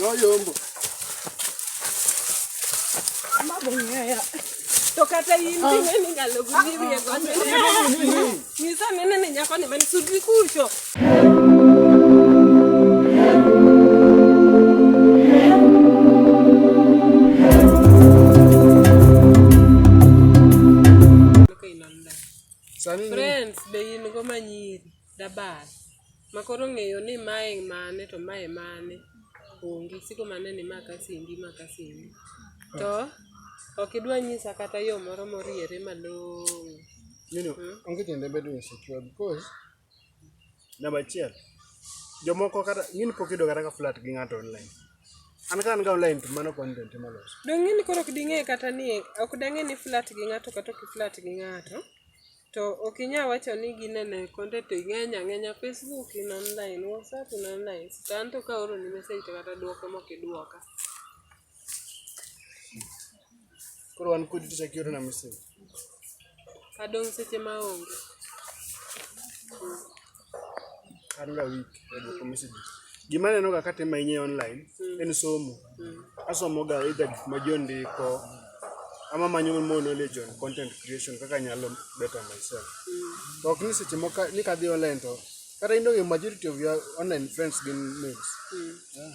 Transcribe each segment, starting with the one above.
noyombo mabong'eya to kata in ah. ing'e ni nyalo gudhirie ah, ah, nyisa nene ni nyako ni mani sudri kucho Friends, be in go manyiri. dabas ma koro ng'eyo ni mae mane to mae mane onge siko mane ni ma kasindi ma kasindi to ok idwa nyisa kata yo moro moriere malong'o you know, mm. onge tiende bedo insecure because namba achiel jomoko kata ng'ini pok yudo kata ka flat gi ng'ato online an ka an ga online to mano content malos dong' ng'ini koro ok ding'e kata ni ok dang'e ni flat gi ng'ato kata ok flat gi ng'ato To ok inyal wacho ni ginene konde to ing'eny ang'enya facebook in online, whatsapp in online. To anto ka aoroni message to kata duoko mok iduoka. Koro wan kodi to chak iorona message. Adong' seche ma onge. Mm. An ga week e duoko message. Gima aneno ga katimo ahinya e online en somo. Asomo ga either gik ma ji ondiko ama manyo more knowledge on content creation kaka anyalo better myself. To ok ni seche moko ka- ni kadhi online to kata in onge majority of your online friends gin males. Yeah.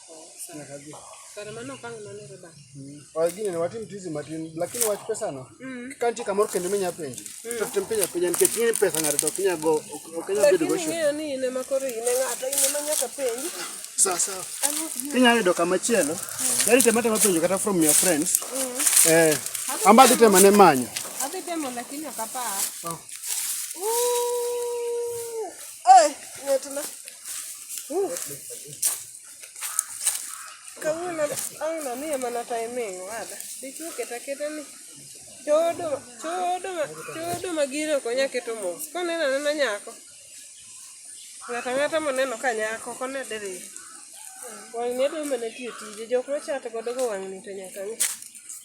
Sina kabisa. Sare mano kang mano reba. Mm. Wa gini ni watim tizi matin lakini wach pesa no. Mm. Kanti kamor kendo menya penji. Mm. To tem penya penya nikech ni pesa ngare to kinya go okenya bedo go shu. Lakini ni ne makore ine ngata ine manya ka penji. Sawa sawa. Kinya yudo kama chielo. Mm. Yari temata mapenjo kata from your friends. Mm. Eh. Amba dite mane manyo. Adhi temo lakini akapaa. Oh. Uh. Ay, ng'ato na. Uh. Kawuono ang'no ni ema nata iming'o ada. Dichwo keta keta ni. Chodo, chodo, chodo magire ok onya keto mos. Koneno anena nyako. Ng'ata ng'ata moneno ka nyako kone diri. Wang'ni adwa mana tiyo tije. Jok machate godo go wang'ni to nyaka ng'e.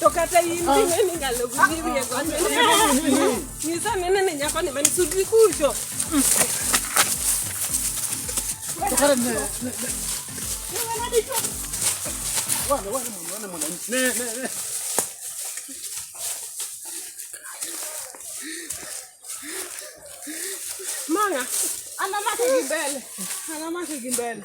To kata in dine ni nyalo gudhi wiye godo. Nyisa nene ni nyako ni man sudri kucho. Manga, anamake gi mbele. Anamake gi mbele.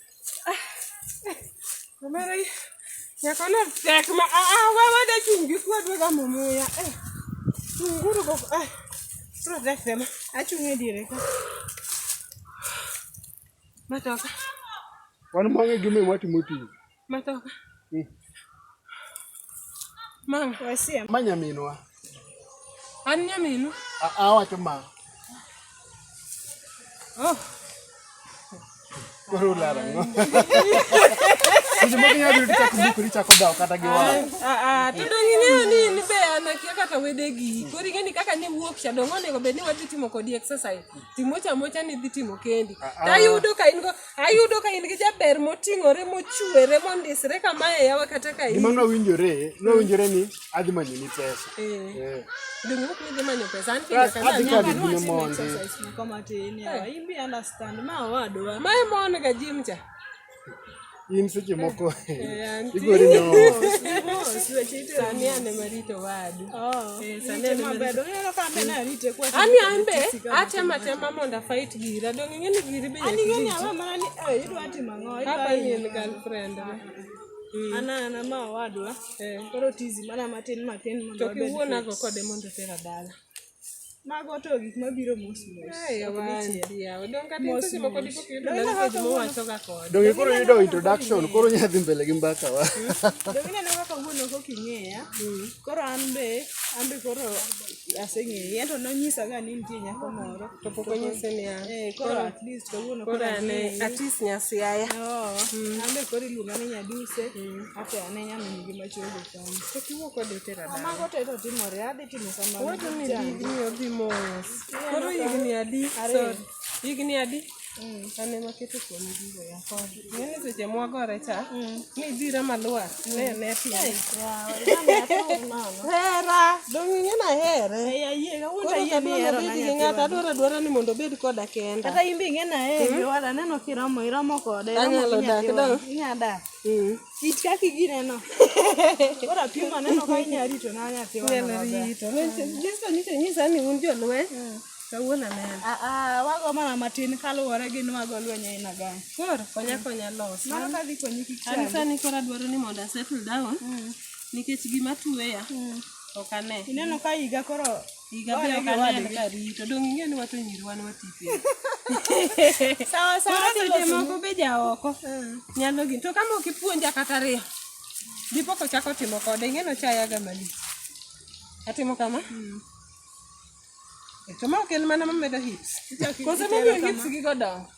Omera nyako no tek ma a a wa wa da chung gi kwa dwe ga momo ya eh chunguru go eh pro da sema a chung e dire ka matoka Wan mang'e gime matimo tich. matoka Eh. Mama, wasia. Ma nyaminwa. An nyaminu? Awacho ma. Oh. Koro ulara ngo. Sisi mwa kinya biru tichako buku tichako dawa kata gi wala. Eh, ah, ah, tudo ng'inyo ni ni be anakia kata wede gi. Kori ng'eni kaka ni wuok cha dongo nego be ni wadhi timo kodi exercise. Timo cha mocha ni dhi timo kendi. Ah, Tayudo ka in go ayudo ka in gi jaber moting'ore mochwere mondisre kamae yawa kata ka gima nowinjore nowinjore ni adhi manyo ni pesa eh. ding'uk ni dhi manyo pesa an kinde kana adhi kadi gine monde mae mon ga jim cha in seche moko eh, igori no sani ane marito wadu Oh, eh, ani ambe atema tema mondo afait gira dong ing'e ni giri be eh, hapa ni en girlfriend ah, ah, ah. ana ana ma wadwa eh. koro tizi mana matin matin mondo to kiwuonago kode mondo tera dala Mago to gik mabiro mos mos. Donge koro yudo introduction, koro nya dhi mbele gi mbaka wa. Donge neno kaka wuon ok oking'eya. Koro an be, an be koro aseng'eyi. En to nonyisa ga ni nitie nyako moro. To pok onyise ni an. Eh, koro at least kawuono koro Koro ane ang'eyi. at least nyasiaya. Oo, an be koro iluonga ni nyaduse, ato ane nyamin gi machogo. Koro higni adi? Sorry. Higni adi? An ema aketo kuom gigo ya kod. Ng'eni seche mwagore cha, nidhira malwar, ne ne piny. Hera, dong' ing'e nahere. Koro kadwara bed gi ng'ato, adwaro adwara ni mondo obed koda kenda. Kata in be ing'e nahere, wada neno kiromo, iromo kode. iromo Anyalo gi dak nyathiwa. dong'. Inya dak. Mm. It kaki gineno. Ora pim aneno ka inya rito na nya tiwa. Inya rito. Jesu nyiso nyisa ni un jolweny. Mm. Kawuono aneno. Ah ah wago mana matin kaluwore gi nwago lweny aina gani. Koro konya konya los. Mano ka dhi konyi kik chandi. An sani koro adwaro ni mondo asettle down. Mm. Nikech gima tuweya. Mm. Ok ane. Ineno ka higa koro Higa be ok aneno ka rito. Dong' ing'e ni wato nyiri wan wati piny. Sawa sawa Koro seche tilos moko be ja oko nyalo gini. To kama ok ipuonja kata ariyo, dipo kochako timo kode, ing'e nochayaga malich. Atimo kama? To ma ok en mana mamedo hips. Kose momiyo hips gigo dongo.